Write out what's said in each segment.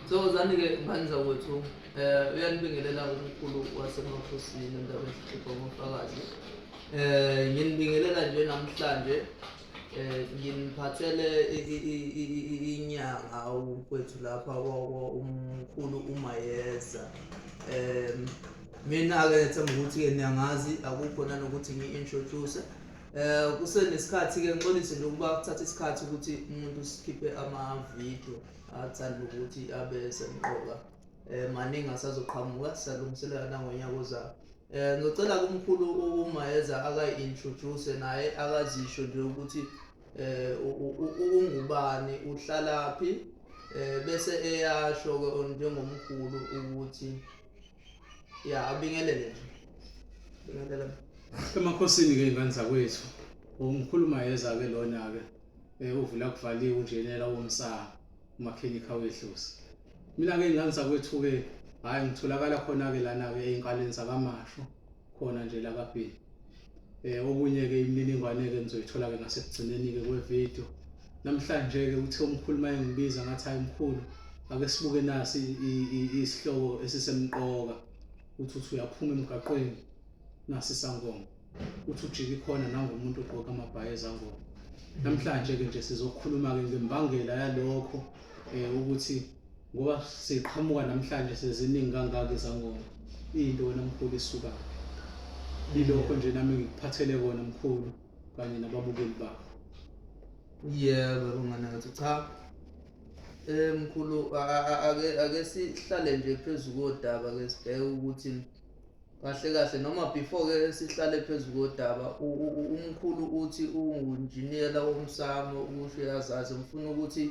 so zani-ke ngani zakwethu um eh, uyanibingelela umkhulu wasemakhosini endaweni esihlupha ngofakazi um eh, nginibingelela nje namhlanje um nginiphathele inyanga ukwethu lapha umkhulu umayeza um mina-ke ngethemba ukuthi-ke niyangazi akukho nanokuthi ngi-introduce Eh kusenesikhathi ke ngixolise nje ukuba kuthatha isikhathi ukuthi umuntu sikhiphe ama-video athanda ukuthi abe semqoka eh maningi asazoqhamuka sisalungiselela nangonyaka ozayo eh ngicela kumkhulu umayeza akayi-introduce naye akazisho nje ukuthi eh ungubani uhlalaphi eh bese eyasho-ke njengomkhulu ukuthi ya abingelele nje bingelela emakhosini ke ingane zakwethu umkhuluma yeza ke lona ke eh, uvula kuvaliwe unjenela womsaka umakhenikha wedlozi mina ke ingane zakwethu ke hayi ngitholakala khona ke lana ke eyinkaleni zakamasho khona nje la kaBhili eh okunye-ke imininingwane-ke nizoyithola-ke ngasekugcineni-ke kwevidiyo namhlanje-ke uthe umkhulu uma engibiza ngathi hayi mkhulu ake sibuke nasi isihloko esisemqoka uthi uthi uyaphuma emgaqweni nasi isangoma uthi ujike ikhona nangomuntu ogqoka amabhayi ezangoma namhlanje-ke nje sizokhuluma-ke ngembangela yalokho um ukuthi Ngoba siqhamuka namhlanje seziningi kangaka izangoma. Into wena mkhulu isuka. Ilokho nje nami ngikuphathele kona mkhulu kanye nababukeli bakho. Yebo unganakathi cha. Eh mkhulu ake ake sihlale nje phezulu kodaba ke sibheke ukuthi kahle kahle noma before ke sihlale phezu kodaba umkhulu uthi ungunjiniyela womsamo ukusho yazazi ngifuna ukuthi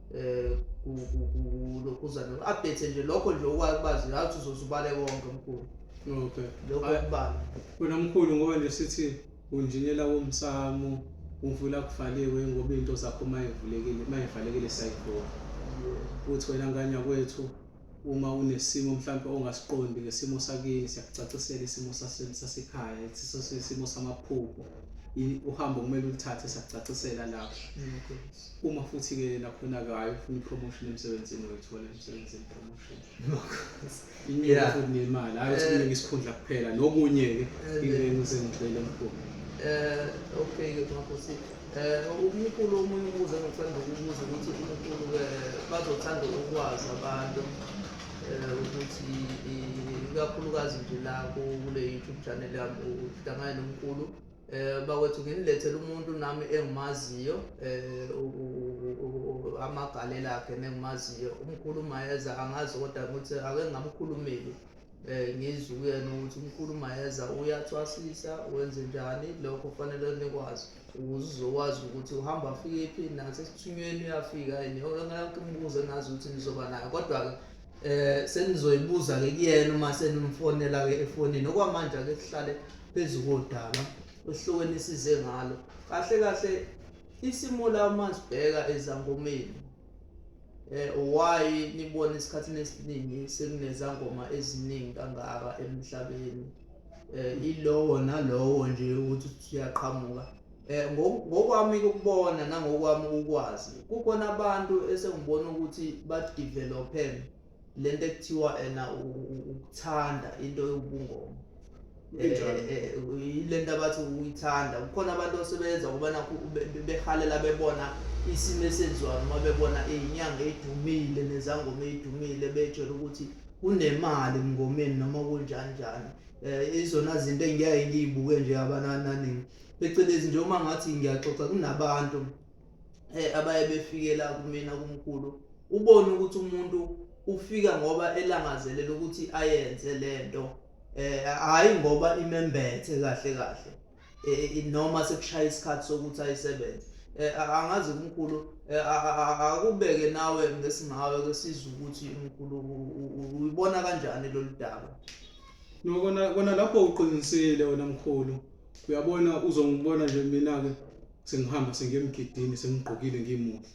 eh kulokhuzana update nje lokho nje okwazi ngathi uzozubale konke mkhulu okay lokho kubala wena mkhulu ngoba nje sithi unjinela womsamo uvula kuvaliwe ngoba into zakho mayivulekile mayivalekile sayivula uthi wena nganya kwethu uma unesimo mhlawumbe ongasiqondi ngesimo sakini siyakucacisela isimo sasekhaya sisosisimo samaphupho uhambo kumele ulithathe siyakucacisela lapho uma futhi ke nakhona ke hayi ufuna promotion emsebenzini uyithola emsebenzini promotion inyela futhi nemali hayi ukuthi eh. kuningi isikhundla kuphela nokunye ke eh, into engize ngigcwele mkhulu eh okay ke mkhulu eh umkhulu omunye ubuze ngicela ukubuza ukuthi umkhulu ke bazothanda ukwazi abantu eh ukuthi ikakhulukazi nje la kule YouTube channel yami uhlangana nomkhulu Eh bakwethu nginilethele umuntu nami engimaziyo eh amagalela akhe nengimaziyo umkhulu Mayeza angazi kodwa ukuthi ake ngamkhulumeli eh ngizwe kuyena ukuthi umkhulu Mayeza uyathwasisa wenze njani lokho kufanele nikwazi ukuze uzokwazi ukuthi uhamba afike phi nasesithunyweni uyafika yini yonke ngakho imibuzo engazi ukuthi nizoba nayo kodwa-ke eh senizoyibuza ke kuyena uma senimfonela ke efonini okwamanje ake sihlale phezu kodaba ohlokweni isize ngalo kahle kahle isimo la uma sibheka ezangomeni eh why nibona isikhathini esiningi sekunezangoma eziningi kangaka emhlabeni eh ilowo nalowo nje ukuthi siyaqhamuka Eh, ngokwami ukubona nangokwami ukwazi kukhona abantu esengibona ukuthi badevelophe le nto ekuthiwa ena ukuthanda into yobungoma eh, eh, yile nto abathi uyithanda kukhona abantu osebenza ukubana behalela bebona isimo esenziwayo noma bebona iyinyanga edumile nezangoma eyidumile betshela ukuthi kunemali emngomeni noma kunjani njani um izona zinto engiyaye ngiyibuke nje abanananingi phecelezi nje uma ngathi ngiyaxoxa kunabantu eh abaye befikela kumina kumkhulu ubone ukuthi umuntu ufika ngoba elangazelela ukuthi ayenze lento eh hayi ngoba imembethe kahle kahle eh, eh, noma sekushaya isikhathi sokuthi ayisebenze eh, angazi kumkhulu akubeke nawe ngesingawe kwesizwe ukuthi umkhulu uyibona kanjani lolu daba nokona kona lapho uqinisile wena mkhulu Uyabona uzongibona nje mina-ke sengihamba sengiye emgidini sengigqokile ngimuhle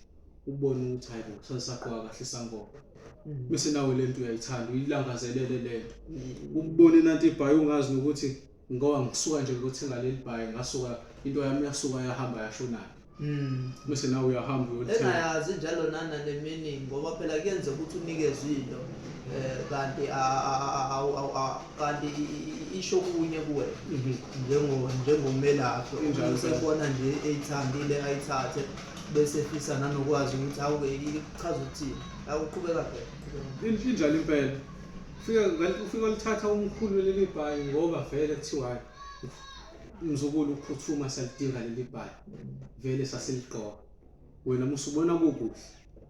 ubone ukuthi hayi bo sasaqoka kahle isangoma bese nawe le nto uyayithanda uyilangazelele le nto ukubona inanti ibhayi ungazi nokuthi ngoba ngisuka nje ngiyothenga leli bhayi ngasuka into yami yasuka yahamba yashonaphi Mm. Bese nawe uyahamba uyothenga. Engayazi njalo nana nemini ngoba phela kuyenzeka ukuthi unikezwe into eh kanti kanti isho kunye kuwe mhm. njengo njengomelaphi injalo sekubona nje eyithandile ayithathe bese fisa nanokwazi ukuthi awuke ichaza ukuthini awuqhubeka phela injalo impela fika kanti ufika lithatha umkhulu leli bhayi ngoba vele kuthiwayo Mzukulu ukuphuthuma salidinga leli bhayi. Vele sasiligqoka. Wena musu ubona kukuhle.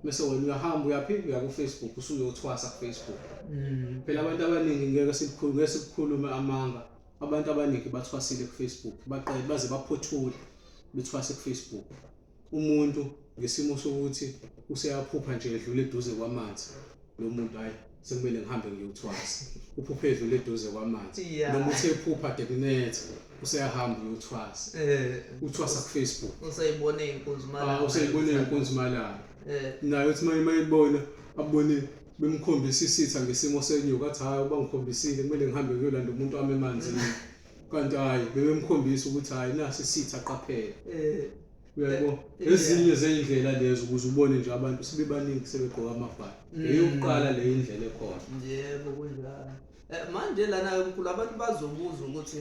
Mese wena uyahamba uyaphi uya ku Facebook usuyothwasa ku Facebook. Mm. Phela abantu abaningi ngeke sikukhulume ngeke sikukhulume amanga. Abantu abaningi bathwasile ku Facebook. Baqale baze baphothule bethwase ku Facebook. umuntu ngesimo sokuthi useyaphupha nje edlule eduze kwamanzi lo muntu hhayi sekumele ngihambe ngiyothwasa uphuphe edlule eduze kwamanzi Yeah. noma uthe ephupha dekunetha useyahamba uyothwasa Eh, uthwasa kufacebook useyibone inkunzi Ah, malanga. useyibone inkunzi malanga Eh, naye uthi uma mayibona abone bemkhombisa isitha ngesimo senyuka athi hhayi uba ngikhombisile kumele ngihambe ngiyolanda umuntu wami emanzini kanti hhayi bebemkhombisa ukuthi hhayi nasi sithi aqaphele eh, uyabo eh, eh, ezinye zey'ndlela lezo ukuze ubone nje abantu sebebaningi sebegqoka amabhali mm. eyokuqala le indlela ekhona yebo kunjalo um manje lana-ke mkhulu abantu bazobuza ukuthi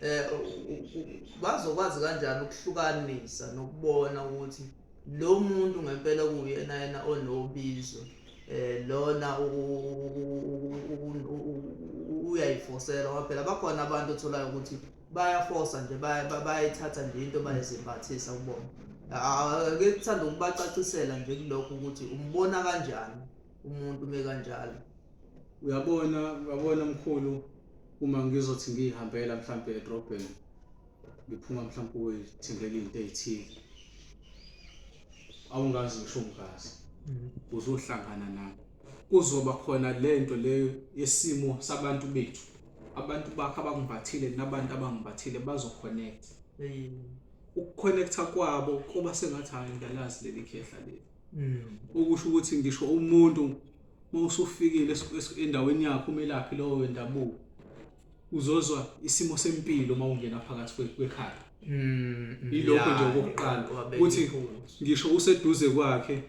um bazokwazi kanjani ukuhlukanisa nokubona ukuthi um Lo muntu ngempela kuwuyena yena onobizo eh lona uyayifosela waphela bakhona abantu otholayo ukuthi bayafosa nje bayayithatha nje into bayizimbathisa kubona ake kuthanda ukubacacisela nje kulokho ukuthi umbona kanjani umuntu ume kanjalo uyabona uyabona mkhulu uma ngizothi ngiyihambela mhlampe edrobheni ngiphuma mhlawumbe kuwe thembele into eyithile awungazi ngisho ungazi mhm. uzohlangana nami kuzoba khona lento le yesimo sabantu bethu abantu bakho abangimbathile nabantu abangimbathile bazoconnect ukuconnecta kwabo kuba sengathi hayi ngiyalazi leli khehla leli mhm. ukusho ukuthi ngisho umuntu uma usufikile endaweni yakho umelaphi lowo wendabuko uzozwa isimo sempilo uma ungena phakathi kwe- kwekhaya Mm, mm, ilokho ya, nje okokuqala wabeka ukuthi impunzi. ngisho useduze kwakhe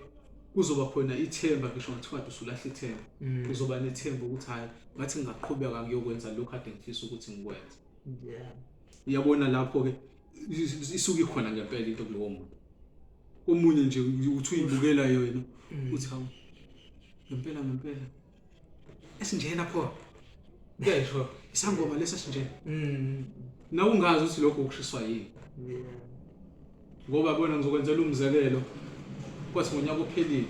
kuzoba khona ithemba ngisho ngathiwa kade usulahle ithemba Mm. uzoba nethemba ukuthi hhayi ngathi ngingaqhubeka ngiyokwenza lokhu kade ngifisa ukuthi ngikwenze Yeah. uyabona lapho-ke is- is- isuke ikhona ngempela into kulowo muntu omunye nje uthi uyibukela yona uthi hawu ngempela ngempela esinjena pho kuyayisho isangoma lesi esinjena mm. nawe ungazi ukuthi lokho kushiswa yini ngoba bona ngizokwenzela umzekelo kwathi ngonyaka ophelile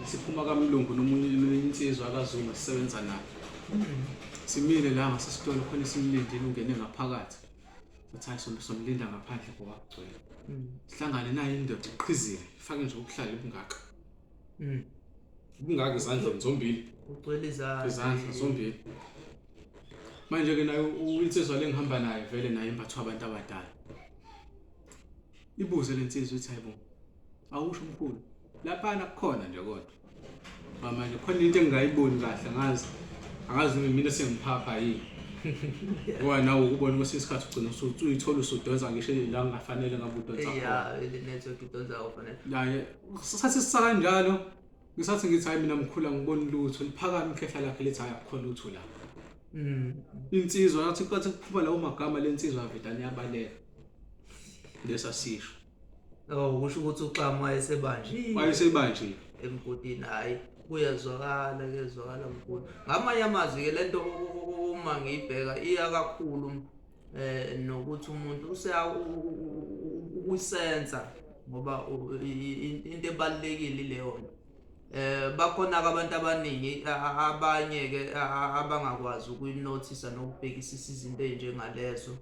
siphuma kamlungu nomunye insizwa akazuma sisebenza naye simile la ngasesitolo khona simlindile ungene ngaphakathi sathi hayi sombe somlinda ngaphandle kowagcwele sihlangane naye indoda iqhizile ifake nje ubuhlali bungaka Mm. Kungaki izandla zombili. Ugcwele izandla. Izandla zombili. Manje ke naye uyinsizwa lengihamba naye vele naye imbathwa abantu abadala. Ibuze lensizwa ithi hayibo. Awusho umkhulu. Lapha nakukhona nje kodwa. Manje khona into engingayiboni kahle ngazi. Angazi noma mina sengiphapha yini. Ngoba nawe ukubona kwesinye isikhathi ugcina usuyithola usudonsa ngisho la ngingafanele ngabe udonsa khona. Yeah, ile network idonsa ofanele. Naye sathi sisakanjalo ngisathi ngithi hayi mina mkhulu angiboni lutho liphakame ikhehla lakhe lithi hayi akukho lutho la mm. insizwa yathi kwathi kuphuma lawo magama lensizwa vedane yabaleka lesasisho oh kusho ukuthi uxama wayesebanjiwe wayesebanjiwe emgodini hayi kuyezwakala kuyezwakala mkhulu ngamanye amazwi ke lento uma ngiyibheka iya kakhulu eh nokuthi umuntu useya ukusenza ngoba into ebalekile leyo eh bakhona abantu abaningi abanye ke abangakwazi ukuyinothisa nokubhekisisa izinto ezinjengalezo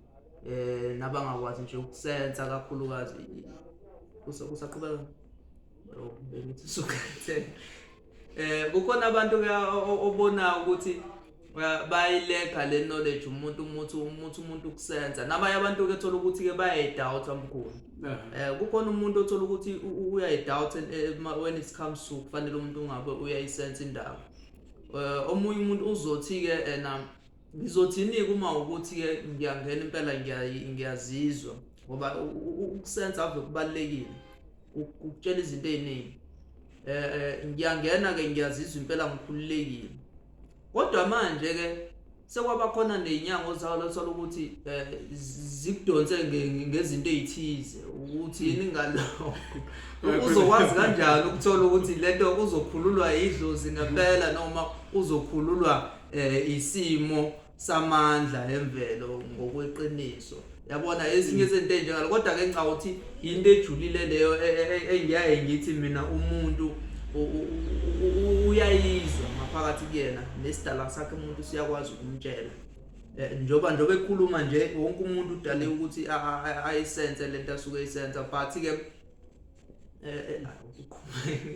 eh nabangakwazi nje ukusenza kakhulukazi kusaqhubeka oh, bengithi sukhethe eh kukhona abantu ke obona ukuthi bayilega le knowledge umuntu umuthi umuthi umuntu ukusenza nabanye abantu ke thola ukuthi ke bayayidoubt amkhulu eh kukhona umuntu othola ukuthi uyayidoubt eh, when it comes to kufanele umuntu ungabe uyayisense indaba eh, omunye umuntu uzothi ke ena eh, ngizothini kuma ukuthi ke ngiyangena impela ngiyazizwa ngoba ukusenza ave kubalekile ukutshela izinto eziningi eh ngiyangena ke ngiyazizwa impela ngikhululekile Kodwa manje ke sekwabakhona nezinyanga ozalo othola ukuthi eh, zikudonse ngezinto ezithize ukuthi yini ngalokho uzokwazi kanjani ukuthola ukuthi lento uzokhululwa idlozi ngempela noma uzokhululwa eh, isimo samandla emvelo ngokweqiniso yabona ezinye izinto enjengalo kodwa ke ngicabanga ukuthi yinto ejulile leyo e, e, e, engiyaye ngithi mina umuntu uyayizwa ngaphakathi kuyena nesidala sakhe umuntu siyakwazi ukumtshela eh, njoba njoba ekhuluma nje wonke umuntu udale ukuthi ayisense lento asuke eyisenza but ke eh, eh,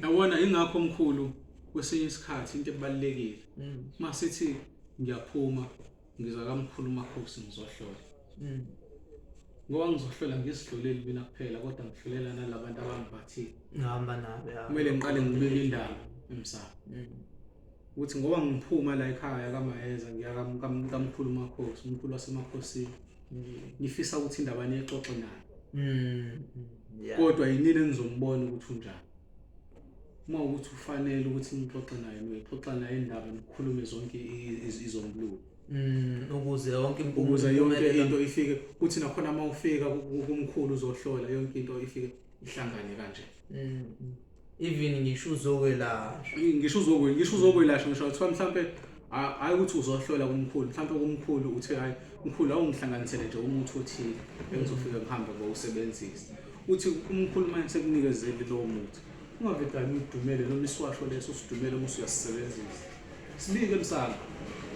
yabona ingakho omkhulu kwesinye isikhathi into ebalekile mm. masithi ngiyaphuma ngiza kamkhulu umakhosi ngizohlola mm. ngoba ngizohlola ngisihloleli mina kuphela kodwa ngihlolela nalabantu abangiphathile ngihamba nabo kumele ngiqale ngibike indaba emsamo mm. ukuthi ngoba ngiphuma la ekhaya kamayeza ngiyakamkhulu umakhosi umkhulu wasemakhosini mm. ngifisa ukuthi indaba niyixoxe nayo kodwa yinini engizombona ukuthi unjani uma ukuthi ufanele ukuthi nixoxe naye nixoxa naye indaba nikhulume zonke izombuluko mm, ukuze yonke ukuze yonke into ifike kuthi nakhona uma ufika kumkhulu uzohlola yonke into ifike ihlangane kanje mm, mm. even ngisho uzokwelashwa ngisho uzokwelashwa ngisho uzokwelashwa ngisho kuthiwa mhlampe hayi ukuthi uzohlola kumkhulu mhlawumbe kumkhulu uthe hayi mkhulu awungihlanganisele nje umuthi othile engizofike ngihambe ngowusebenzisa uthi umkhulu manje sekunikezele lowo muthi Ungavedani udumele noma isiwasho leso sidumele uma usuyasisebenzisa. Sibike msana.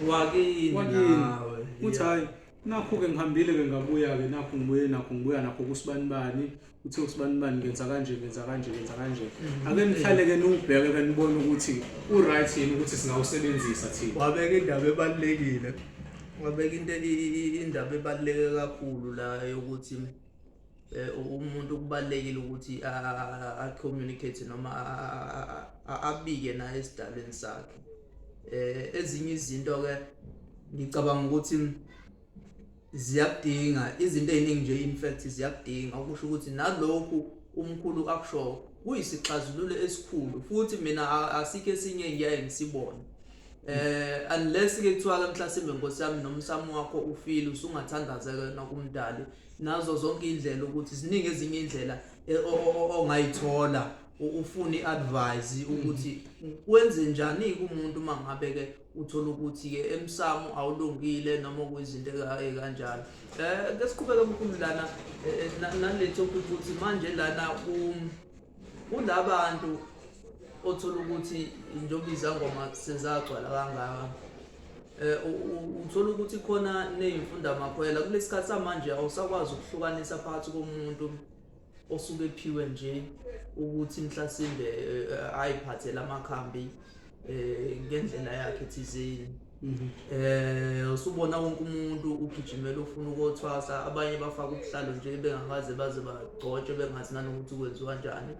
Wakini Wakini. nawe. Uthi hayi nakhu-ke ngihambile-ke ngabuya-ke nakhu ngibuye nakhu ngibuya nakho kusibanibani uthe usibanibani ngenza kanje ngenza kanje ngenza kanje ake nihlale-ke niwubheke-ke nibone ukuthi u-right yini ukuthi singawusebenzisa thina wabeka indaba ebalulekile wabeka into i- i- indaba ebaluleke kakhulu la yokuthi eh, umuntu kubalekile ukuthi a communicate noma abike naye esidalweni sakhe eh ezinye izinto ke ngicabanga ukuthi ziyakudinga izinto eziningi nje in fact ziyakudinga okusho ukuthi nalokhu umkhulu akusho kuyisixazululo esikhulu futhi mina asike sinye ngiyaye ngisibone eh unless ke kuthiwa ke mhlasimbe nkosi yami nomsamo wakho ufile usungathandaza ke nokumdali nazo zonke indlela ukuthi ziningi ezinye indlela eh, ongayithola ufuna iadvice ukuthi kwenze njani kumuntu uma ngabe ke uthola ukuthi ke emsamo awulungile noma kuyizinto ekanjalo eh ke siqhubeke mkhulu lana eh, eh, nale topic ukuthi manje lana ku kulabantu othola ukuthi njengoba izangoma sezagcwala kangaka eh, um uthola ukuthi khona neyimfunda makhwela kulesi sikhathi samanje awusakwazi ukuhlukanisa phakathi komuntu osuke ephiwe nje ukuthi mhlasimbe eh, ayiphathele amakhambi um ngendlela yakhe thizeni um usubona wonke umuntu ugijimela ufuna ukothwasa abanye bafaka ubuhlalo nje bengakaze baze bagcotshwe bengazi nanokuthi kwenziwa njani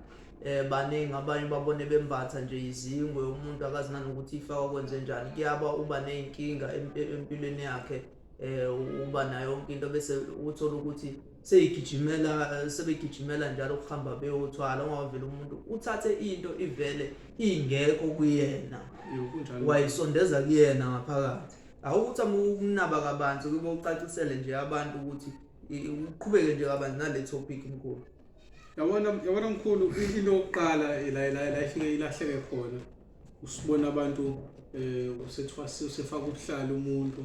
eh baningi abanye babone bembatha nje izingwe umuntu akazi nanokuthi ifakwa kwenze njani kuyaba uba nezinkinga empilweni yakhe eh uba nayo yonke into bese uthola ukuthi seyigijimela sebegijimela njalo ukuhamba beyothwala ungavela umuntu uthathe into ivele ingekho kuyena wayisondeza kuyena ngaphakathi awukuthi ukunaba kabanzi kube ucacisele nje abantu ukuthi uqhubeke nje kabanzi nale topic mkhulu yabona yabona mkhulu into yokuqala la la la ifike ilahleke khona usibona abantu eh usethwasi usefaka ubuhlala umuntu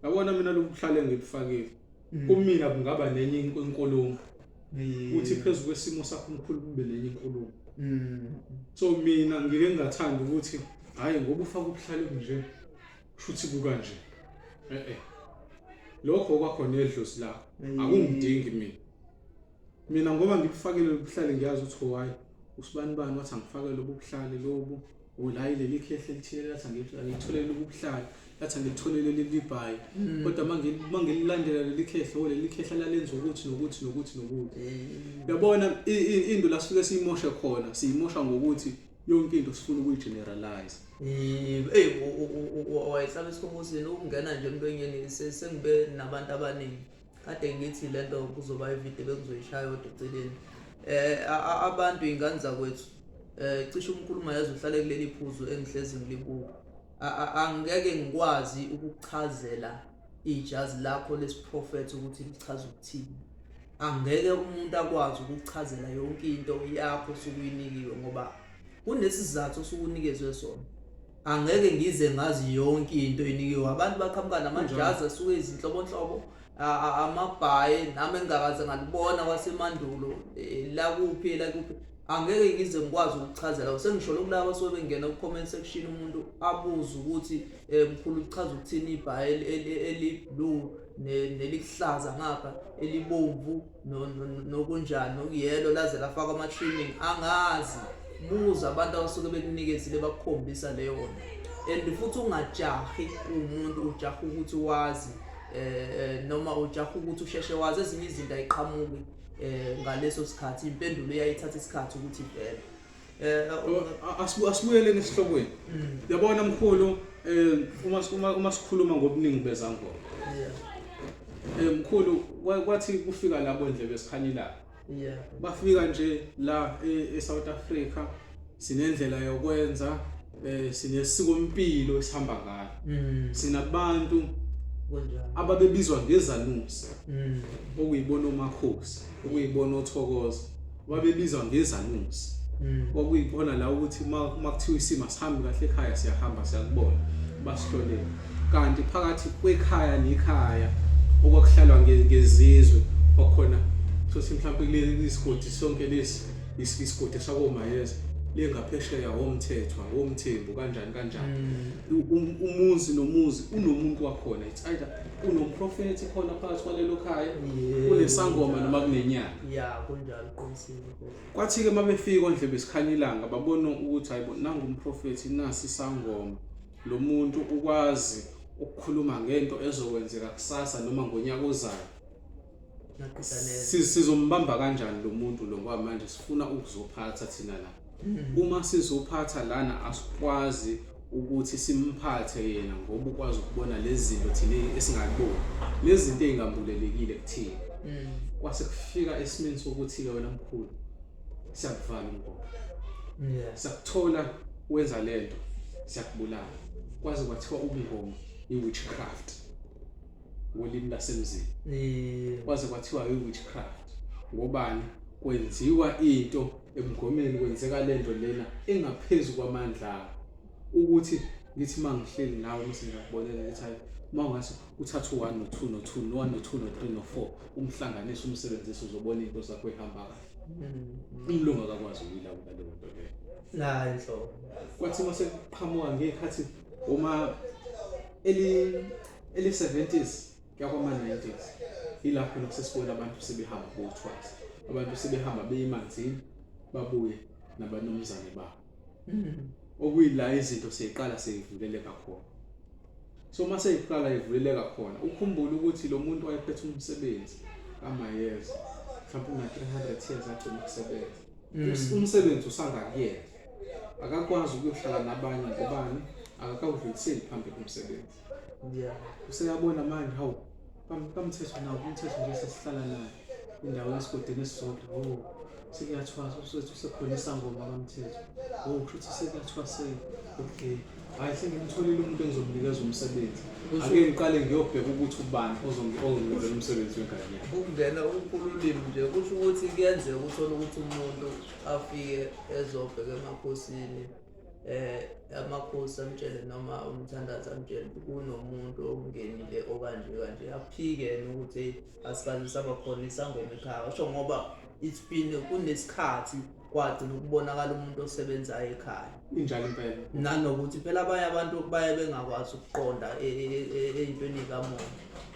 yabona mina lokuhlale ngibufakile mm. kumina kungaba nenye inkulumo mm. uthi phezulu kwesimo sakho mkhulu kube nenye inkulumo mm. so mina ngike ngathanda ukuthi hayi ngoba ufaka ubuhlale nje kushuthi kuka nje eh eh lokho kwakhona edlozi lakho akungidingi mina mina ngoba ngikufakile lobuhlale ngiyazi ukuthi why usibani bani wathi angifake lobuhlale lobu ulayi leli khehle lithile lathi angilitholele lobuhlale lathi angilitholele lelibhayi mm. kodwa uma ngililandela leli khehle o leli khehle lalenza ukuthi nokuthi nokuthi nokuthi mm. uyabona into la sifike siyimoshe khona siyimosha ngokuthi yonke into sifuna ukuyigeneralize eyi wayehlala esikhongozini ukungena nje emntwenyeni sengibe nabantu abaningi kade ngithi le nto kuzoba ividiyo bengizoyishaya kodwa eceleni um abantu iy'ngane zakwethu um cishe umkhuluma yazi uhlale kuleli phuzu engihlezi ngilibuka angeke ngikwazi ukuchazela ijazi lakho lesiprofetho ukuthi lichaza ukuthini angeke umuntu akwazi ukuchazela yonke into yakho sukuyinikiwe ngoba kunesizathu sukunikezwe sona angeke ngize ngazi yonke into enikiwe abantu baqhamuka namajazi asuke izinhlobonhlobo amabhayi nami engingakaze ngalibona kwasemandulo eh, lakuphi lakuphi angeke ngize ngikwazi ukuchazela sengisholo kulaba sobe bengena ku-comment section umuntu abuze ukuthi eh, mkhulu kuchaza ukuthini ibhayi eliblue nelihlaza ngapha elibomvu nokunjani okuyelo laze lafakwa ama-training angazi buza abantu abasuke bekunikezile bakukhombisa leyona and futhi ungajahi umuntu ujaha ukuthi wazi eh noma ujaha ukuthi usheshe wazi ezinye izinto ayiqhamuki eh ngaleso sikhathi impendulo iyayithatha isikhathi ukuthi ivele eh asibuyele nesihlokweni mm. yabona mkhulu eh uma uma uma sikhuluma ngobuningi bezangoma yeah eh mkhulu kwathi kufika labo nje besikhanyila yeah bafika nje la e-South e-, Africa sinendlela yokwenza eh sinesikompilo esihamba ngalo mm. sinabantu ababebizwa ngezanusi mm. okuyibona omakhosi okuyibona othokoza babebizwa ngezanusi mm. okuyibona la ukuthi uma kuthiwa isimo sihambi kahle ekhaya siyahamba siyakubona basihlolele kanti phakathi kwekhaya nekhaya okwakuhlalwa ngezizwe kwakhona sothi mhlawumbe kuleli sigodi sonke lesi isigodi sakomayeza lengaphesheya womthethwa womthembu kanjani kanjani mm. um, umuzi nomuzi unomuntu wakhona it's either unomprofethi khona phakathi kwalelo khaya kunesangoma noma kunenyanga ya kunjalo qinisile kwathi ke mabefika ondle besikhanya ilanga babona ukuthi hayibo nangu umprofethi nasi isangoma lo muntu ukwazi ukukhuluma ngento ezokwenzeka kusasa noma ngonyaka ozayo Si- sizombamba kanjani lo muntu lo ngoba manje sifuna ukuzophatha thina la uma sizophatha lana asikwazi ukuthi simphathe yena ngoba ukwazi ukubona lezi zinto thina esingakuboni lezi zinto ey'ngambulelekile kuthina kwase kufika esimeni sokuthi-ke wena mkhulu siyakuvala umgomo Yeah. sakuthola wenza lento siyakubulala kwaze kwathiwa ubungoma i-witchcraft ngolimi lasemzini eh. kwaze kwathiwa i-witchcraft ngobani kwenziwa into emgomeni kwenzeka lento lena engaphezulu kwamandla akho ukuthi ngithi mangihleli nawe mase ngiyakubonela ethi hayi uma ungase uthathe u-one no-two no-two no-one no-two no-three no-four umhlanganise umsebenzise uzobona into zakho ihamba kahle mm. umlungu akakwazi ukuyilawula leyo nto leyo nayi nhlobo kwathi uma sekuqhamuka ngekhathi uma eli Eli-70s kuya kwama-90s yilapho khona kusesibona abantu sebehamba bothwasa abantu sebehamba beyimanzini babuye nabanumzane babo hmm. okuyila izinto seyiqala seyivuleleka khona so uma seyiqala ivuleleka khona ukhumbule ukuthi lo muntu wayephethe umsebenzi kamayeza mhlawumbe una-300 years agcina ukusebenza hmm. umsebenzi usangakuyena akakwazi ukuyohlala nabanye ngobani akakawudluliseli phambi komsebenzi Yeah. Useyabona manje hawu. Kam- Kamthetho nawo umthetho nje sesihlala naye. Indawo yesigodini esisodwa. Oh. Sekuyathwasa usethu sekhona isangoma kamthetho. Oh, kushuthi sekuyathwaseka. Okay. Hayi sengimtholile umuntu engizomnikeza umsebenzi. Ake ngiqale ngiyobheka ukuthi ubani ozongi- ozonginikeza umsebenzi wengane yakhe. ukungena ukululimi nje kusho ukuthi kuyenzeka uthole ukuthi umuntu afike ezobheka emakhosini eh amakhosi amtshele noma umthandazi amtshele kunomuntu okungenile okanje kanje aphike yena ukuthi asikaze saba khona isangoma ekhaya washo ngoba it's been kunesikhathi kwagcina ukubonakala umuntu osebenzayo ekhaya injalo impela nanokuthi phela abanye abantu baye bengakwazi ukuqonda e, e, e, ey'ntweni kamoya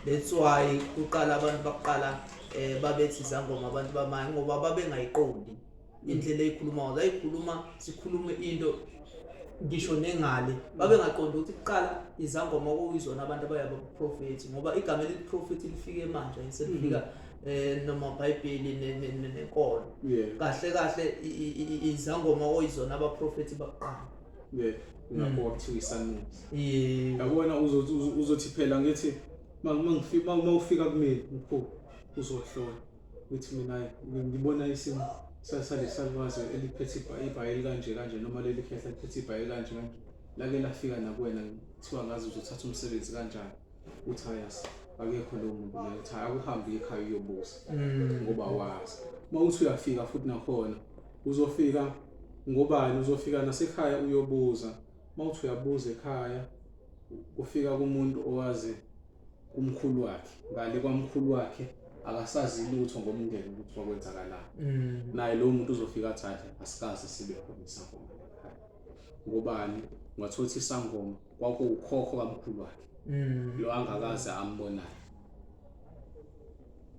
that's why kuqala abantu baqala um babethi izangoma abantu bamanye ngoba babengayiqondi indlela eyikhulumayo zayikhuluma sikhulume into ngisho nengale babengaqonda ukuthi kuqala izangoma okuyizona abantu abayaba kuprofethi ngoba igama elithi profethi lifike manje selifika mm -hmm. eh noma iBhayibheli nenkolo kahle kahle izangoma oyizona abaprofeti bakuqala yeah ngakho wakuthiwa mm. isanusi yabona uzothi uzothi phela ngithi uma ngifika uma ufika kumina mkhulu uzohlola uthi mina ngibona isimo sasale salwazi eliphethe ibhayi elikanje kanje noma leli khehla liphethe ibhayi elikanje kanje lake lafika nakuwena kuthiwa ngazi uzothatha umsebenzi kanjani uthi hayas akekho lowo muntu naye uthi hhayi akuhambe ekhaya uyobuza mm. ngoba wazi uma uthi uyafika futhi nakhona uzofika ngobani uzofika nasekhaya uyobuza uma uthi uyabuza ekhaya kufika kumuntu owazi kumkhulu wakhe ngale kwamkhulu wakhe akasazi lutho ngomndeni ukuthi kwakwenzakalani mm. naye lowo muntu uzofika athathe asikaze sibe khona isangoma ngobani ungathola ukuthi isangoma kwakuwukhokho kamkhulu wakhe mm. lo angakaze ambonayo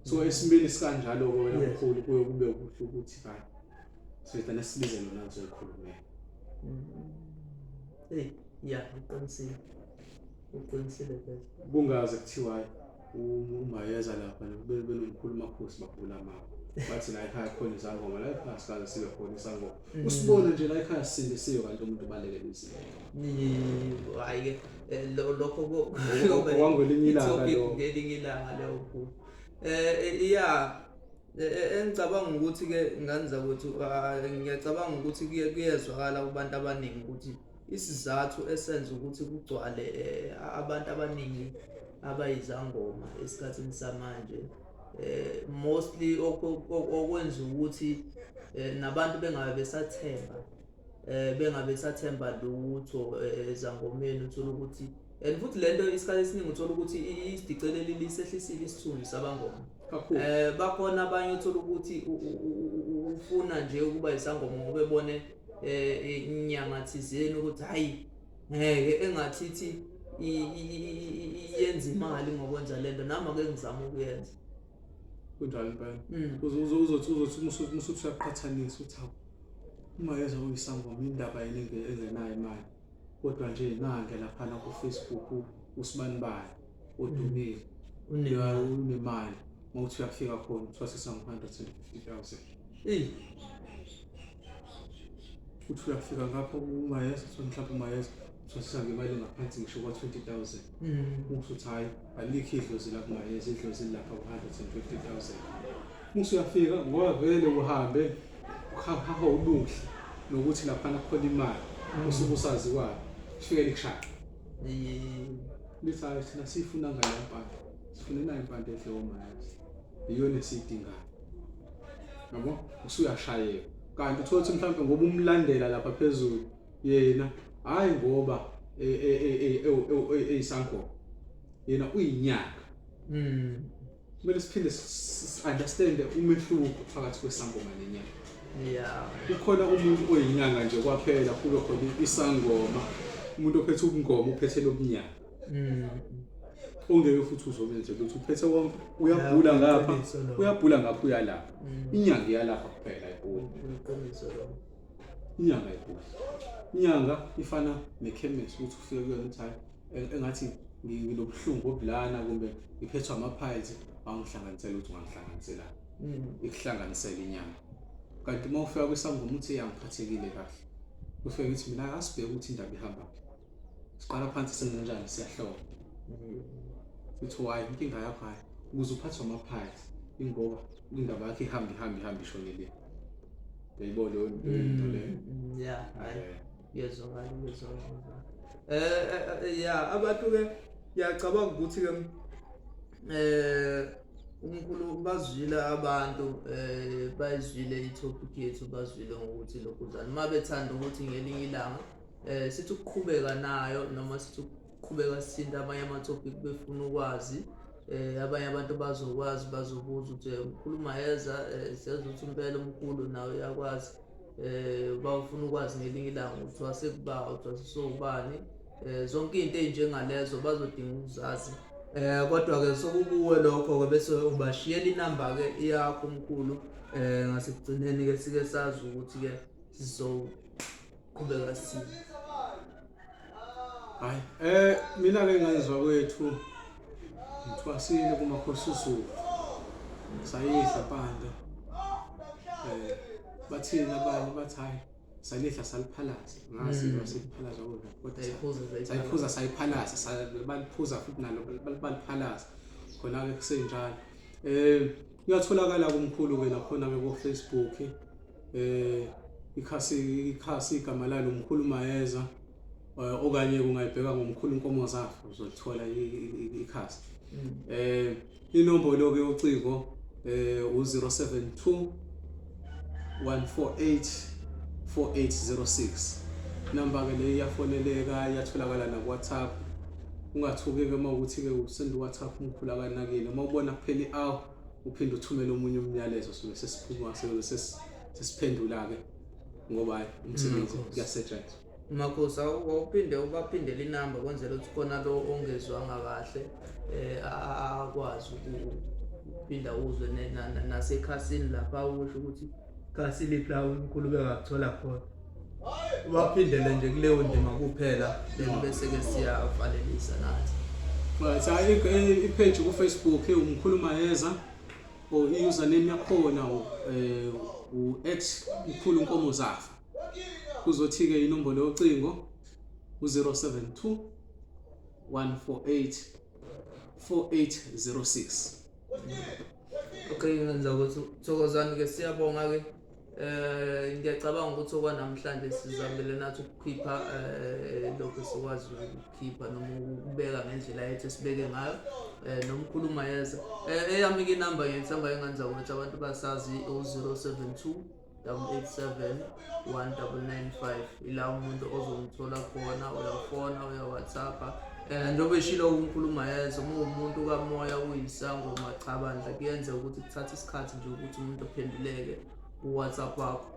so esimeni sikanjalo ke wena mkhulu kuye kube kuhle ukuthi ba sithatha nesibize lona ngizoyikhulumela mm. eh ya uqinisile Uqinisile phela. Kungaze kuthiwa umayeza lapha nokube benomkhulu makhosi bagula mama. Bathi la ekhaya khona izangoma la ekhaya sikaze sibe khona isangoma. Mm. Usibone nje la ekhaya sindisiwe kanti umuntu baleke lizile. Hayi ke eh, lokho kwangelinye ilanga lo. Ngelinye ilanga lokho. Eh iya eh, eh, eh, engicabanga ukuthi ke ngani zakwethu ah, ngiyacabanga ukuthi kuyezwakala kubantu abaningi ukuthi Isizathu esenza ukuthi kugcwale eh, abantu abaningi abayizangoma esikhathini samanje eh, mostly okwenza ukuthi eh, nabantu bengabe besathemba eh, bengabe besathemba lutho eh, ezangomeni uthola ukuthi and futhi le nto isikhathi esiningi uthola ukuthi isidiceleli lisehlisile isithunzi sabangoma eh bakhona abanye uthola ukuthi ufuna nje ukuba isangoma ngoba ebone eh inyanga thizeni ukuthi hayi ngeke engathi ithi yenza imali ngokwenza lento nami ake ngizama ukuyenza kunjalo impela mm. uzothi uzothi musubusaqhathanisa ukuthi hawu uma yeza uyisangoma indaba yini engenayo imali kodwa nje nange laphana ku-facebook usibanibani udumile unika unemali mawuthi uyafika khona kuthiwa sesangu-150,000 eyi uthi uyafika ngapho umayeza kuthiwa mhlawumbe umayeza kuthiwa sesangemali ngaphansi ngisho kwa-20,000 muthi uthi hhayi alikho idlozi la kumayeza idlozi lilapha ku-150,000 muthi uyafika ngoba vele uhambe uhahaha ubuhle nokuthi laphana kukhona imali usuke usaziwayo ufike likushaya Lisayo thina sifuna ngale mpande. Sifuna nayo mpande ehle omayazi. Iyona esidingayo. Yabo? Usuyashayeka. Kanti uthola ukuthi mhlawumbe ngoba umlandela lapha phezulu yena hayi ngoba eyisangoba. Yena uyinyanga. Mm. kumele siphinde si-understande umehluko phakathi kwesangoma nenyanga yeah. kukhona umuntu oyinyanga nje kwaphela kube khona isangoma umuntu ophethe ubungoma uphethe lobunyanga mm. ongeke futhi uzobe nje ukuthi uphethe konke uyabhula ngapha uyabhula ngapha uyalapha mm. inyanga iyalapha kuphela ibhula inyanga ibhula inyanga ifana nekhemesi ukuthi ufike kuyona ukuthi hayi engathi nginobuhlungu obulana kumbe ngiphethwa ama-piles wangihlanganisela ukuthi ungangihlanganisela mm. ikuhlanganisela inyama kanti uma ufika kwisangoma uthi yangiphathekile kahle kufike ukuthi mina asibheke ukuthi indaba ihambaphi siqala phansi singenjani siyahloba futhi mm. wayi inkinga yakho hayi ukuze uphathwe ama-piles ingoba indaba yakho ihambe ihambe ihambe ishonele uyayibona leyo nto leyo mm, ya Ngiyezwakala, ngiyezwakala. Eh ya abantu ke ngiyacabanga ukuthi ke eh uNkulunkulu bazwile abantu eh bayizwile itopic yethu bazwile ngokuthi lokhu njani uma bethanda ukuthi ngelinye ilanga eh sithi ukuqhubeka nayo noma sithi ukuqhubeka sithinta amanye amatopic befuna ukwazi eh abanye abantu bazokwazi bazobuza ukuthi eh, ukhuluma yeza eh, siyazi ukuthi impela umkhulu nawe uyakwazi eh bawufuna ukwazi ngelinye ilanga ukuthi wasekuba ukuthi wasisowubani eh zonke izinto ezinjengalezo bazodinga ukuzazi eh kodwa ke sokukuwe lokho ke bese ubashiyela inamba ke yakho umkhulu eh ngasekugcineni ke sike sazi ukuthi ke sizoqhubeka sini hayi um mina ke ngayizwa kwethu ngithwasile kumakhosi usuku sayidla panda um bathini abanye bathi hhayi salidla saliphalaza ngazi mm. saliphalaza kodwasayiphuza sayiphalaza baliphuza futhi nalo baliphalaza khona-ke kusenjalo um kuyatholakala kumkhulu-ke nakhona-ke kofacebook eh ikhasi ikhasi igama lalo mkhulu mayeza eh, okanye kungayibheka ngomkhulu inkomo zafa uzolithola ikhasi mm. eh inombolo ke ucingo eh u072 148 4806 number ke leyo iyafoneleka iyatholakala na WhatsApp ungathuki ke uma ukuthi ke usend WhatsApp umkhulu akanakile uma ubona kuphela i-hour uphinde uthumele omunye umyalezo suke sesiphuma sesiphendula-ke ngoba hayi umsebenzi kuyasetshenzwa makhosi wawuphinde ubaphindele inamba kwenzela ukuthi khona lo ongezwanga kahle um akwazi ukuphinda uzwe nasekhasini lapha usho ukuthi kasiliphi la unkulunkulu bengakuthola khona ubaphindele nje kuleyo ndima kuphela then bese-ke siyavalelisa nathi right ipage kufacebook umkhulu mayeza or i-username yakhona eh, u-at mkhulu nkomo zafa kuzothi-ke inombolo yocingo u-072 148 4806 Okay, ngenza ukuthi Thokozani-ke siyabonga-ke eh ngiyacabanga ukuthi okwanamhlanje sizamile nathi ukukhipha eh lokho sikwazi ukukhipha noma ukubeka ngendlela yethu esibeke ngayo eh nomkhuluma yeza eh eyami ke number ngiyithemba enganza ukuthi abantu basazi u072 887 1995 ila umuntu ozomthola khona uyafona uyawhatsappa um njengoba eshilo unkulumo yezo uma uwumuntu kamoya uyisangoma cha bandla kuyenzeka ukuthi kuthatha isikhathi nje ukuthi umuntu aphenduleke kuwhatsapp wakho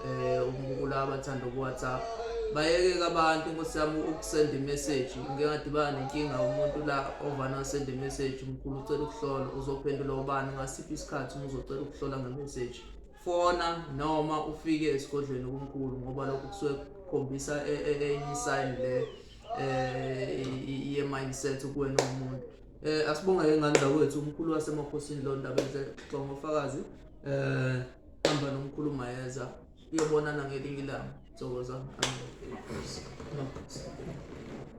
um umukula abathanda ukuwhatsapp bayeke-ke abantu nkosi yami ukusenda imeseji ngike ngadibana nenkinga umuntu la ovana asenda imeseji mkhulu ucela ukuhlola uzophendula ubani ngasiphi isikhathi uma uzocela ukuhlola ngemeseji fona noma ufike esigodlweni okunkulu ngoba lokho kusuke kukhombisa e, e, e, enye isayini le ye-mindset kuwena umuntu um asibonge-ke ngane zakwethu umkhulu wasemakhosini lo ndaba enhle xixo ngofakazi um hamba nomkhulu mayeza uyobonana ngelinye ilanga thokoza